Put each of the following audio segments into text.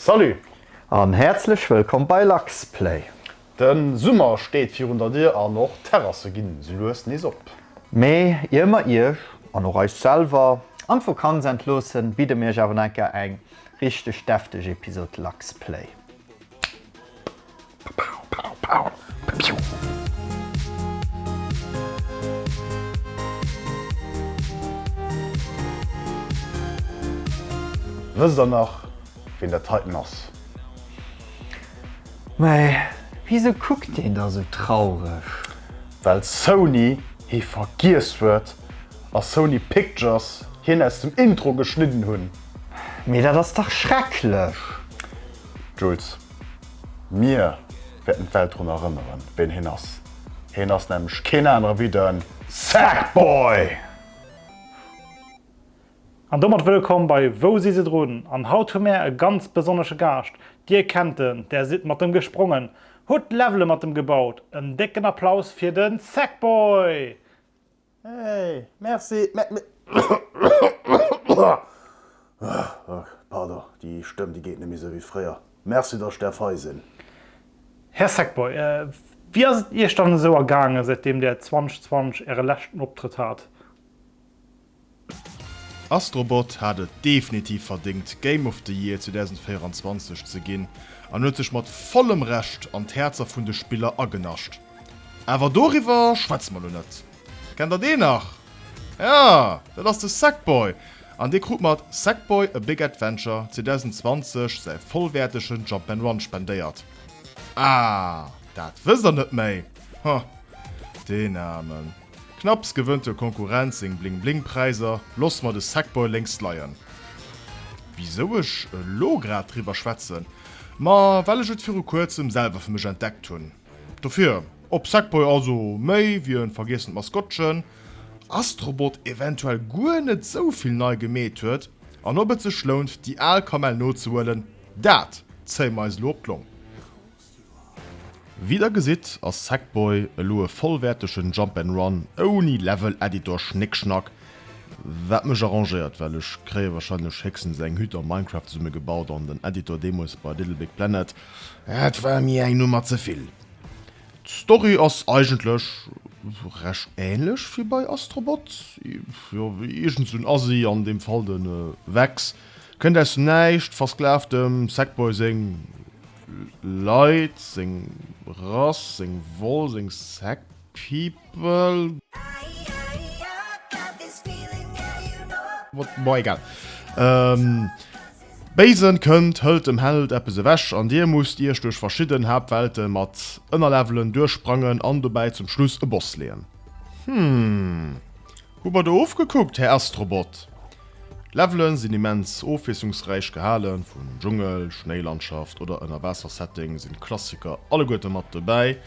Salut an häerzlech wëllkomm bei Luxplay! Den Summer steet virun der Dier an och d'Terrasse ginn sou lues nees op. Mee ier mer iech, an och eis selwer, an d'Vokanz entloossen, bidde mir iech awer nach enker eng richteg defteg Episode Luxplay. Wësst der nach ween dat heiten ass? Mais wisou kuckt deen da sou traureg? Well Sony hie vergiess huet a Sony Pictures hien aus dem Intro geschnidden hunn. Mais dat ass dach schrecklech! Jules, Mir wäerten d'Welt drun erënneren, ween heen ass. Heen ass nämlech keen anere wéi de Sackboy! An domat wëllkomm bei Wou si se drun? An haut hu mär e ganz besonnesche Gaascht. Dir kennt en, der sidd mat em gesprongen, hutt Levele mat em gebaut. En décken Applaus fir de Sackboy! Här Sackboy, wéi ass et Iech dann esou ergaangen, säitdeem Där 2020 Äre leschten Optrëtt hat? Astrobot hat et definitiv verdéngt Game of the Year 2024 ze ginn an huet sech mat vollem Recht an d'Häerzer vun de Spiller agenascht. Awer doriwwer schwätze mer elo net. Kennt der deen nach? Jo, dat ass de Sackboy an dee krut mat Sackboy A Big Adventure 2020 säi vollwäertegen Jump'n'Run Run spendéiert. Ah, dat wësst der net méi? Huh, deen Aarmen. Knapps gewënnt der Konkurrenz seng Bling Bling Präiser, loss mer de Sackboy lénks leien. Wisou ech elo grad driwwer schwätzen? Ma well ech et viru kuerzem selwer fir mech entdeckt hunn. Dofir, ob Sackboy also méi wéi e vergiessent Maskottchen, Astrobot eventuell guer net sou vill nei gemeet huet an ob et sech lount déi al Kamell nozehuelen, dat zéie mer eis elo op d'Long. Wéi der gesitt ass Sackboy elo e vollwäertegen Jump and Run ouni Level Editor Schnéckschnack, wat mech arrangéiert well ech kréie wahrscheinlech héchstens eng Hütt a Minecraft zesumme gebaut an den Editor deemools bei Little Big Planet, dat war mir eng Nummer zevill. D'Story ass eigentlech recht ähnlech wéi bei Astrobot, jo iergend sou en Assi, an deem Fall de Vexx, kënnt aus dem Näischt, versklaavt dem Sackboy seng. Leit, seng Rass, seng Woll, seng Sekt, people, what, bon egal. Béisen kënnt, hëlt dem Held eppes ewech an dir musst iech duerch verschidden Haaptwelte mat Ënnerlevelen duerchsprangen an dobäi zum Schluss e Boss leeën. Hm. Hu mer do ofgekuckt, Här Astrobot. D'Levelen sinn immens ofwiesslungsräich gehalen, vun Dschungel, Schnéilandschaft oder Ënnerwaassersetting sinn d'Klassiker alleguerte mat dobäi.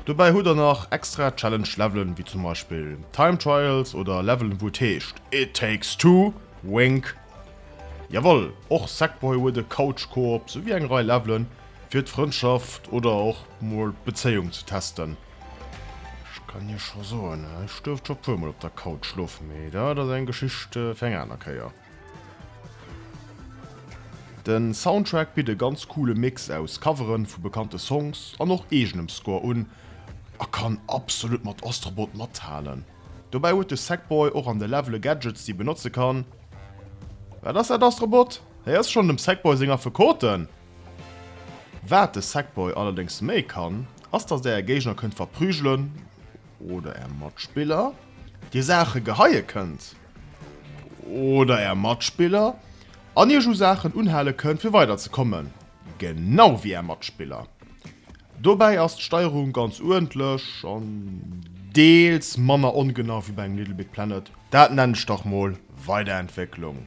Dobäi hutt der nach extra Challenge-Levelen, wéi zum Beispill Time Trials oder Levelen wou et heescht It Takes Two, wink. Jawoll, och Sackboy huet e Couch-Koop, souwéi eng Rei Levelen fir d'Frëndschaft oder och mol d'Bezéiung ze testen. Ech kann Iech scho soen, ech duerft scho puer mol op der Couch schlofen, mee dat ass eng Geschicht fir eng aner Kéier. Den Soundtrack bitt e ganz coole Mix aus Coveren vu bekannte Songs an och eegenem Score un a kann absolut mat Astrobot mathalen. Dobäi huet de Sackboy och an de Levele Gadgets déi benotze kann. Wat ass dat Astrobot? Hei ass schonn dem Sackboy seng Affekoten! Waat de Sackboy allerdéngs méi kann, ass dass der är Géigner kënnt verprügelen oder är Matspiller dir Saachen geheie kënnt oder är Matspiller an iech u Saachen unhale kënnt fir weider ze kommen, genau wéi är Matspiller. Dobäi ass d'Steierung ganz uerdentlech an deels manner ongenau wéi bei engem Little Big Planet. Daat nenn ech dach mol Weiderentwécklung.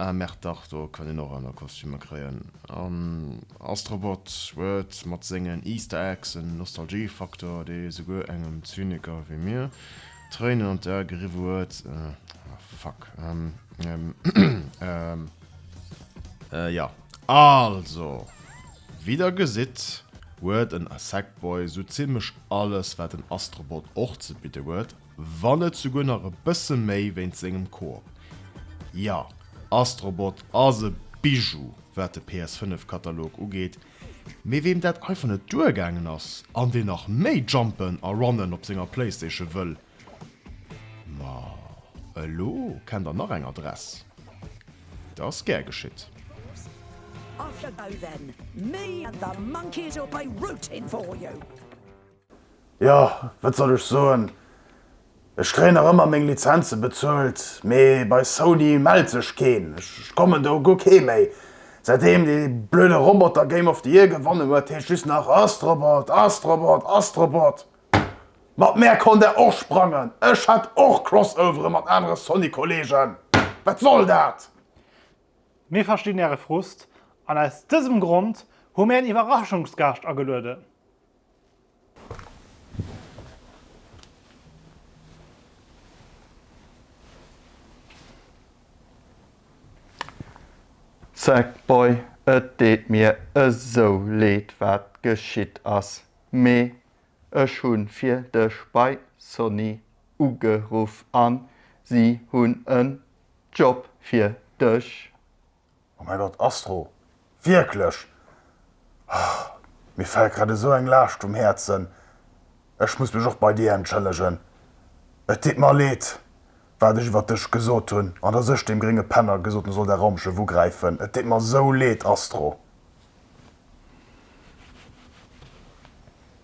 Ah merde, dach, do kann een och aner Kostümer kréien. An Astrobot huet mat sengen Easter Eggs en Nostalgie-Faktor, dee souguer engem Zyniker wéi mir d'Tréinen an d'Ae geriwwe huet. Ah fuck. Ähm, ähm, ähm. Äh, ja. Also, wéi der gesitt, huet en Sackboy sou zimmlech alles, wat en Astrobot och ze bidde huet, Wann net souguer nach e bësse méi wéint sengem Koop. Jo, Astrobot ass e Bijou wat de PS5 Katalog ugeet, mee weem dat einfach net duer gaangen ass an deen nach méi jumpen a runnen op senger Playstation wëll, ma elo kennt der nach eng Adress, et ass gär geschitt. Off you go then, me and the monkeys will play root in for you! Jo, wat soll ech soen, ech kréien nach ëmmer meng Lizenze bezuelt, mee bei Sony mellt sech keen. Ech kommen do guer kee méi, säitdeem dee blöde Roboter Game of the Year gewonnen huet, heescht just nach Astrobot, Astrobot, Astrobot. Mat mär konnt der och sprangen, ech hat och Crossovere mat anere Sony-Kollegen. Wat soll dat? Mir verstinn Äre Frust an aus dësem Grond hu mir en Iwwerraschungsgaascht agelueden. Zack boy et deet mir esou leed wat geschitt ass, mee ech hunn fir dech bei Sony ugeruff an si hunn en Job fir dech. Oh mäi Gott, Astro, wierklech? Oh, mir fält grad esou eng Laascht vum Häerzen. Ech muss mech och bei dir entschëllegen. Et deet mer leed, wat ech iwwert dech gesot hunn an dass ech deem grénge Penner gesot hunn, e soll däi Raumschëff ugräifen. Et deet mer esou leed, Astro.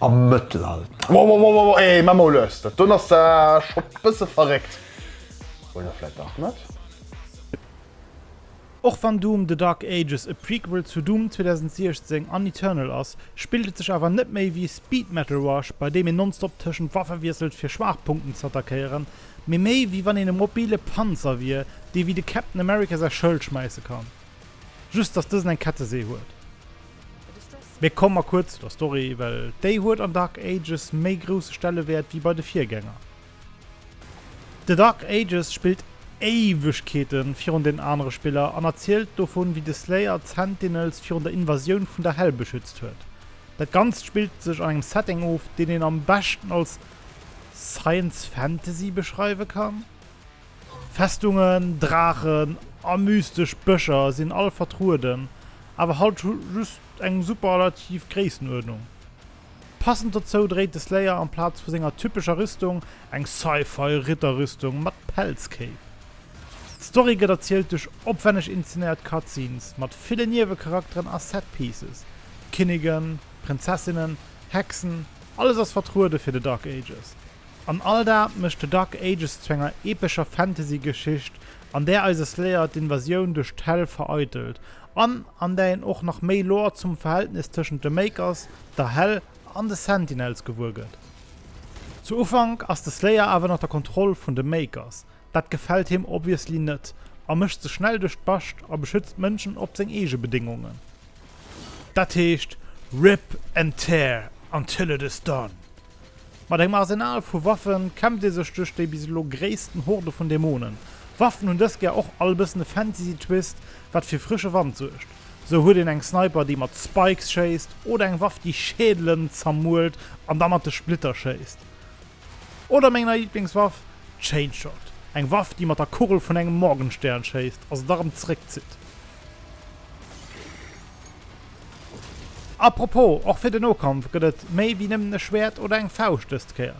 am Mëttelalter. Wow wow wow wow eeh maa mol lues, dat don ass da scho bësse verréckt, oder vläit dach net? Och wann Doom, The Dark Ages e Prequel zu Doom 2016 an Eternal ass, spillt et sech awer net méi wéi Speed Metal Rush, bei deem een nonstop tëschent Waffe wiesselt fir Schwaachpunkten z'attackéieren, mee méi wéi wann een e mobile Panzer wier, dee wéi de Captain America säi Schëld schmäisse kann, just dass dësen eng Kettesee huet. Mee komm mer kuerz zu der Story, well déi huet an Dark Ages méi grousse Stellewäert wéi bei de Virgänger. The Dark Ages spillt Éiwegkeete virun den anere Spiller an erzielt dovun, wéi de Slayer d'Sentinels virun der Invasioun vun der Hell beschützt huet. Dat Ganzt spillt sech an engem Setting of, deen een am beschten als Science Fantasy beschreiwe kann. Festungen, Draachen a mystesch Bëscher sinn all vertrueden, awer halt just eng superlativ Gréissenuerdnung. Passend dozou dréit de Slayer amplaz vu senger typescher Rüstung eng Sci-Fi Ritterrüstung mat Pelzkéip. D'Story gëtt erzielt duerch opwenneg inzenéiert Cutscenes mat ville Niewecharakteren a Set-Pieces, Kinnigen, Prinzessinnen, Hexen, alles ass vertruede fir de Dark Ages. An all dat mécht The Dark Ages zu enger epescher Fantasygeschicht, an där eise Slayer d'Invasioun duerch d'Hell vereitelt, an an där een och nach méi Lore zum Verhältnis tëschent de Makers, der Hell an de Sentinels gewuer gëtt. Zu Ufank ass de Slayer awer ënner der Kontroll vun de Makers. Dat gefält him obviously net, a mécht sech schnell duerch d'Bascht a beschützt d'Mënschen op seng eege Bedéngungen. Dat heescht, Rip and tear until it is done! Mat engem Arsenal vu Waffen kämpft ee sech duerch déi bis elo gréissten Horde vun Dämonen. D'Waffen hunn dës Kéier och all e bëssen e Fantasy Twist, wat fir frësche Wand suergt. Sou huet een eng Sniper, déi mat Spikes schéisst, oder eng Waff, déi Schädelen zermuelt an da mat de Splitter schéisst. Oder meng nei Liblingswaff, d'Chainshot, eng Waff, déi mat der Kugel vun engem Morgenstern schéisst a se da rëm zeréckzitt. A propos, och fir den Nokampf gëtt et méi wéi nëmmen e Schwäert oder eng Fauscht dës d'Kéier.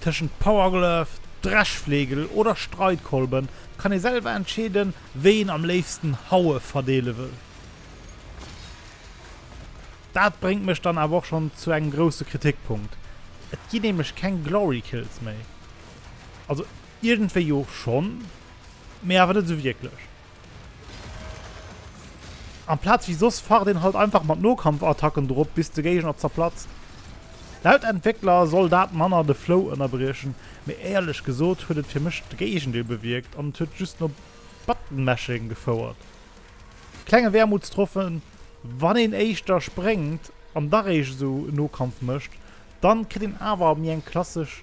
Tëschent Power Glove, Dreschflegel oder Streitkolben kann ee selwer entscheeden, wéi een am léifsten Haue verdeele wëll. Dat bréngt mech dann awer och schonn zu engem grousse Kritikpunkt, et ginn nämlech keng Glory Kills méi. Also iergendwéi jo schonn, mee awer net esou wierklech. Amplaz wéi soss facht een halt einfach mat Nokampfattacken drop bis de Géigner zerplatzt. Laut Entwéckler soll dat manner de Flow ënnerbriechen, mee éierlech gesot huet et fir mech de Géigendeel bewierkt an et huet just no Button-Mashing gefouert. Klenge Wermutstropfen, Wann een éischter spréngt an da réischt esou Nokampf mécht, dann kritt een awer méi eng klassesch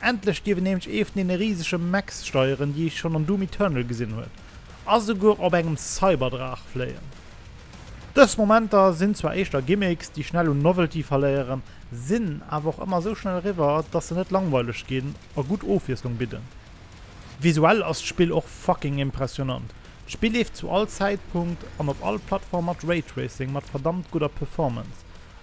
Endlech dierf een nämlech ee vun deene risege Mechs steieren, déi ee schonn an Doom Eternal gesinn huet, a souguer op engem Cyberdraach fléien. Dës Momenter sinn zwar éischter Gimmicks, déi schnell un Novelty verléieren, sinn awer och ëmmer esou schnell eriwwer, dass se net langweileg ginn a gutt Ofwiesslung bidden. Visuell ass d'Spill och fucking impressionant. D'Spill leeft zu all Zäitpunkt an op all Plattform mat Raytracing, mat verdammt gudder Performance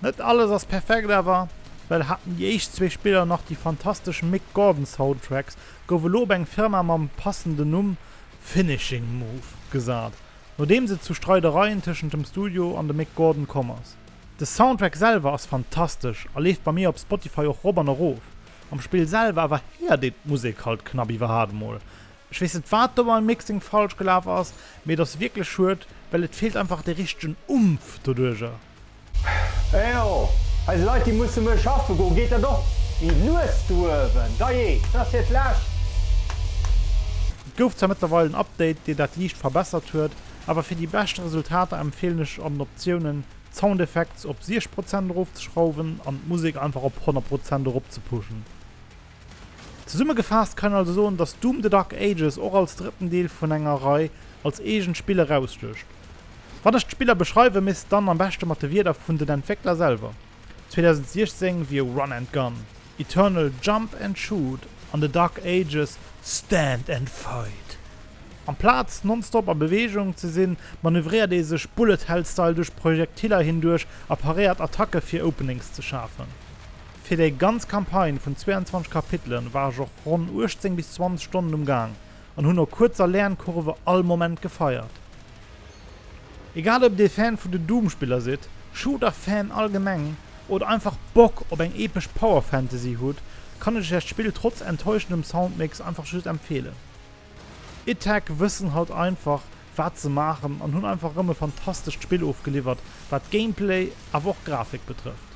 Net alles ass perfekt, awer well haten déi éischt zwee Spiller nach déi fantastesch Mick Gordon Soundtracks, gouf elo op eng Firma mam passenden Numm Finishing Move gesat, nodeems et zu Streidereien tëschent dem Studio an dem Mick Gordon komm ass. De Soundtrack selwer ass fantastesch a leeft bei mir op Spotify och rop an erof. Am Spill selwer awer héiert een d'Musek halt knappi warhaart mol. Ech weess net wat do beim Mixing falsch gelaf ass, mee et ass wierklech schued, well et feelt einfach de richtegen Umf doduerger. Ejo, eis Leit déi musse muer schaffe goen, geet dat och mi lues do uewen, dajee, et ass hiert lescht. Et gouf zwar mëttlerweil en Update deen dat liicht verbessert huet, awer fir déi beschte Resultater empfeelen ech an den Optiounen d'Sound Effects op 60 Prozent erofzeschrauwen an d'Musek einfach op 100 Prozent eropzepushen. Zesummegefaasst kann een also soen, dass Doom, The Dark Ages och als drëtten Deel vun enger Rei als eegent Spill erausstécht. Wann ech d'Spiller beschreiwen, misst dann am beschte mat de Wierder vun den Entwéckler selwer. 2016 wier Run and Gun, Eternal Jump and Shoot an The Dark Ages Stand and Fight. Amplaz nonstop a Beweegung ze sinn, manövréiert ee sech Bullet-Hell-Style duerch Projektiller hinduerch a paréiert Attacke fir Openings ze schafen. Fir déi ganz Campagne vun 22 Kapitelen war ech och ronn 18 bis 20 Stonnen um Gaang an hunn no kuerzer Lernkurve all Moment gefeiert. Egal ob dir Fan vun den Doom-Spiller sidd, Shooter-Fan allgemeng oder einfach Bock op eng epesch Power Fantasy hutt, kann ech iech dat Spill trotz enttäuschendem Soundmix einfach just empfeelen. Itech wëssen halt einfach wat se maachen an hunn einfach erëm e fantastescht Spill ofgeliwwert wat Gameplay awer och Grafik betrëfft.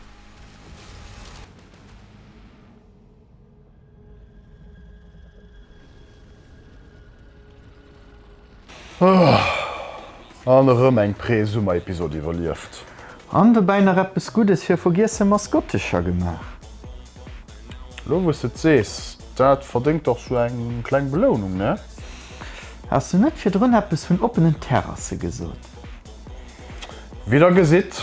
An erëm eng Pre-Summer-Episod iwwerlieft. An dobäi nach eppes Guddes fir vergiesse Maskottescher gemaach. Lo wou s de et sees, dat verdéngt dach sou eng kleng Belounung, ne? Has du net virdrun eppes vun oppenen Terrasse gesot? Wéi der gesitt,